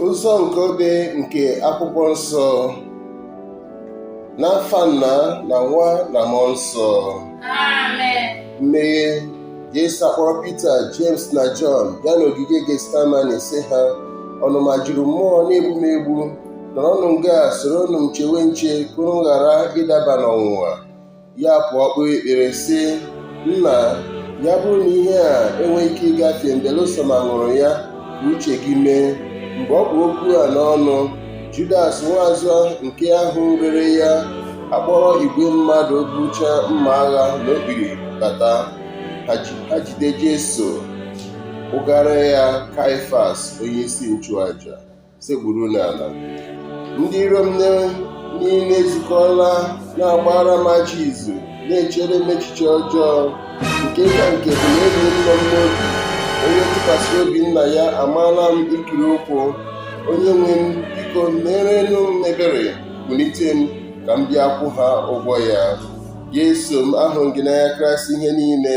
ụzọ nke obe nke akwụkwọ nsọ n'afa nna na nwa na mmụọ nsọ mmeghe Jesu akpọrọ Pita James na Jọn bịa n'ogige Getsemane sị ha ọnụma juru mmụọ na-egbu m egbu nọrọnụ nga a soronụ m chewe nche ka unu ghara ịdaba n'ọnwụnwa ya pụọ kpee ekpere sị nna ya bụrụ na ihe a enweghị ike ịgafe m belụsọ ma m ṅụrụ ya ka uche gị mee mgbe ọ kpụ okwu a n'ọnụ judas nwaazụ nke ahụ rere ya akpọrọ igwe mmadụ bucha mma agha na okpiri bata ha jide jesu kpụgara ya kaifas onye isi nchụaja sekpuru n'ala ndị iro m niile ezukọla na-agbara m ajọ izu na-echere m echiche ọjọọ nke ka nke bụ na enyi nọ m n'obi onye m tụkwasịrị obi na ya amaala m ikiri ụkwụ onye nwe m biko merenụ m ebere kulite m ka m bịa kwụọ ha ụgwọ ya Jesu m ahụrụ m gị n'anya karịsịa ihe niile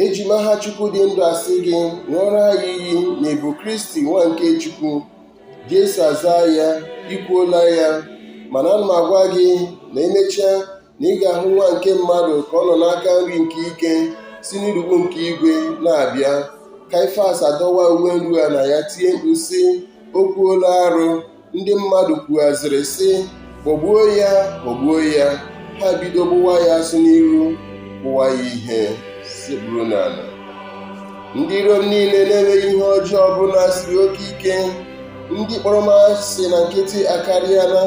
eji m aha Chukwu dị ndụ asị gị ṅụọrọ anyị iyi na ị bụ Kristi nwa nke Chukwu Jesu azaa ya i kwuola ya mana ana m agwa gị na emechaa na ị ga-ahụ nwa nke mmadụ ka ọ nọ n'aka nri nke ike si n'urukpu nke igwe na-abịa Kaifas adọwaa uwe nruana ya tie mkpu sị o kwuola arụ ndị mmadụ kwughaziri sị kpọgbuo ya kpọgbuo ya ha bido gbụwa ya asụ n'iru kụwa ya ihe sekpuru n'ala ndị iro m niile na-enweghị ihe ọjọọ ọbụla siri oke ike ndị kpọrọ m asị na nkịtị akarịala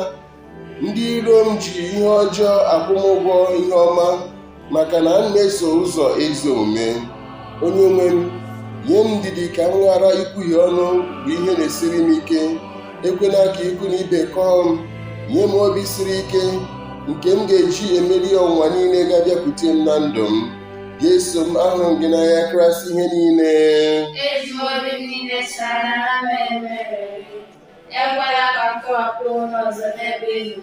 ndị iro m ji ihe ọjọọ akwụ m ụgwọ ihe ọma maka na m na-eso ụzọ ezi omume onye nwe m nye m ndidi ka m ghara ikwuhie ọnụ bụ ihe na-esiri m ike ekwela ka ikwu na ibe kọọ m nye m obi siri ike nke m ga-eji emeri ọnwụnwa niile ga-abịakwute m na ndụ m Jesu m ahụrụ m gị n'anya karịsịa ihe niile Ezigbo ndị niile sara na mere mere. Ekwela ka m tọhapụ onwe m ọzọ n'ebe ị nọ,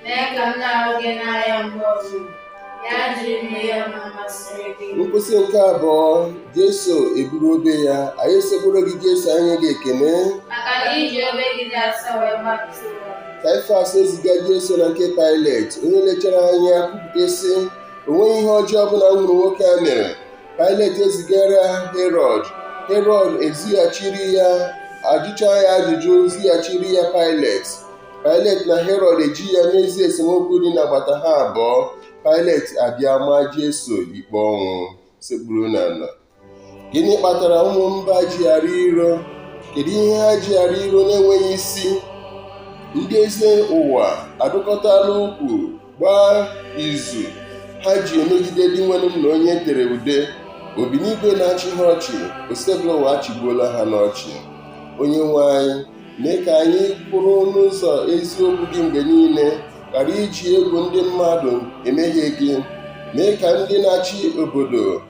mee ka m na-ahụ gị n'anya mgbe ọzọ. Ya jiri m mee ihe masịrị gị. Nkwụsị nke abụọ, Jesu eburu obe ya. Anyị esekpuoro gị Jesu enye gị ekene. Maka na i ji obe gị dị asọ wee gbapụta ụwa. Kaifas eziga Jesu na nke Pailet, onye lechara anya kwupụta sị, O nweghị ihe ọjọọ ọbụla m hụrụ nwoke a mere. Pailet ezigara Herọd Herọd ezighachiri ya ajụcha ya ajụjụ zighachiri ya Pailet Pailet na Herọd eji ya mezie esemokwu dị n'agbata ha abụọ Pailet abịa maa Jesu ikpe ọnwụ sekpuru n'ala gịnị kpatara ụmụ mba ji arị iro kedu ihe ha ji arị iro na-enweghị isi ndị eze ụwa adụkọtala ukwu gbaa izu ha ji emegide Dinwenụ m na onye tere ude obinigwe na-achị ha ọchị Osebụlụwa achịgbuola ha n'ọchị onye nwe anyị mee ka anyị kwụrụ n'ụzọ eziokwu gị mgbe niile ghara iji egwu ndị mmadụ emehie gị mee ka ndị na-achị obodo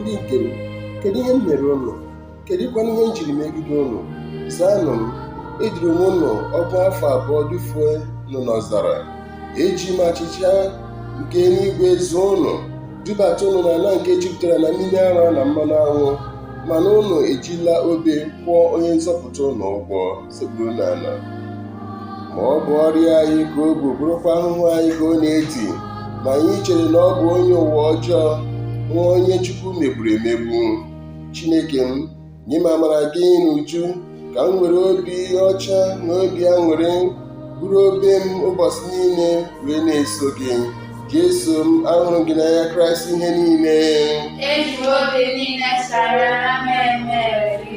Ndị nke m, kedụ ihe m mere ụnụ? Kedụkwanụ ihe m jiri megide ụnụ? Zaanụ m, eduru m ụnụ ọgụ afọ abụọ dufue ụnụ n'ọzara. Eji m achịcha nke eluigwe zụọ ụnụ, dubata ụnụ n'ala nke jupụtara na mmiri ara na mmanụ aṅụ, mana ụnụ ejila obe kwụọ onye nzọpụta ụnụ ụgwọ. sekpuru n'ala ma ọ bụ ọrịa anyị ka o bu bụrụkwa ahụhụ anyị ka ọ na-edi ma anyị chere na ọ bụ onye ụwa ọjọọ nwa onye chukwu megburu emegbu chineke m nye m amara gị n'uju ka m were obi ọcha na obi aṅụrị buru obe m ụbọchị niile wee na-eso gị jesu m ahụrụ m gị n'anya karịsịa ihe niile Eji m obi niile sara na mmemme gị.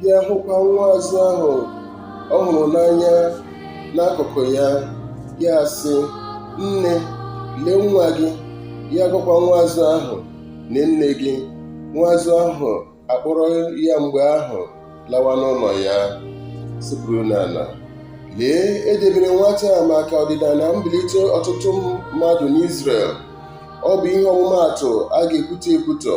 bịa hụkwa nwa azụ ahụ ọ hụrụ n'anya n'akụkụ ya ya asị nne lee nwa gị ya agwakwa nwa azụ ahụ lee nne gị nwa azụ ahụ akpọrọ ya mgbe ahụ lawa n'ụlọ ya sekpuru n'ala lee edebere nwata a maka ọdịda na mbilite ọtụtụ mmadụ n'Izrel ọ bụ ihe ọmụmaatụ a ga-ekwutọ ekwutọ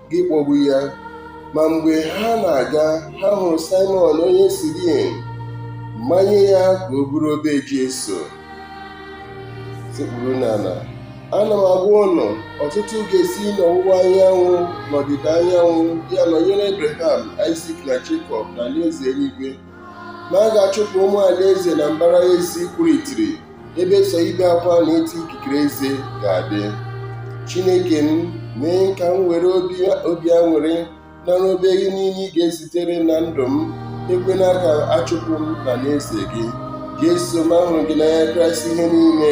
gị kpọgbu ya ma mgbe ha na-aga ha hụrụ Saịmọn onye Sirin manye ya ka o buru obe Jesu sekpuru n'ala ana m agwa ụnụ ọtụtụ ga-esi n'ọwụwa anyanwụ na ọdịda anyanwụ bịa nọnyere Abraham Aịzik na Jekọb na alaeze eluigwe ma a ga-achụpụ ụmụ alaeze na mbara ezi kwuru itiri ebe sọ ibe akwa na ịta ikikere eze ga-adị chineke m mee ka m were obi aṅụrị nara obe gị niile ị ga-ezitere na ndụ m ekwena ka achụpụ m n'alaeze gị jesu m ahụrụ m gị n'anya karịsịa ihe niile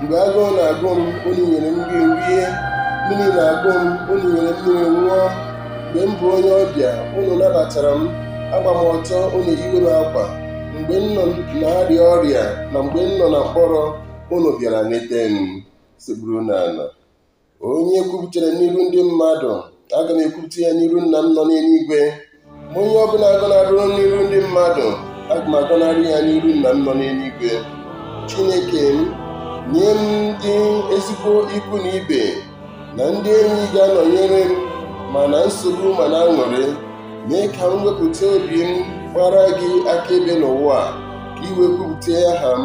mgbe agụụ na-agụ m unu nyere m nri rie mmiri na-agụ m unu nyere m mmiri ṅụọ mgbe m bụ onye ọbịa unu nabatara m agba m ọtọ unu eyiwe m akwa mgbe m nọ na-arịa ọrịa na mgbe m nọ na mkpọrọ unu bịara leta m sekpuru n'ala onye kwupụtara m n'iru ndị mmadụ aga m ekwupụta ya n'iru nna m nọ n'eluigwe ma onye ọbụla gọnarụ m n'iru ndị mmadụ aga m agọnarị ya n'iru nna m nọ n'eluigwe chineke m nye m ndị ezigbo ikwu na ibe na ndị enyi ga-anọnyere m ma na nsogbu ma na aṅụrị mee ka m wepụta obi m gbara gị akaebe n'ụwa a ka i wee kwupụta aha m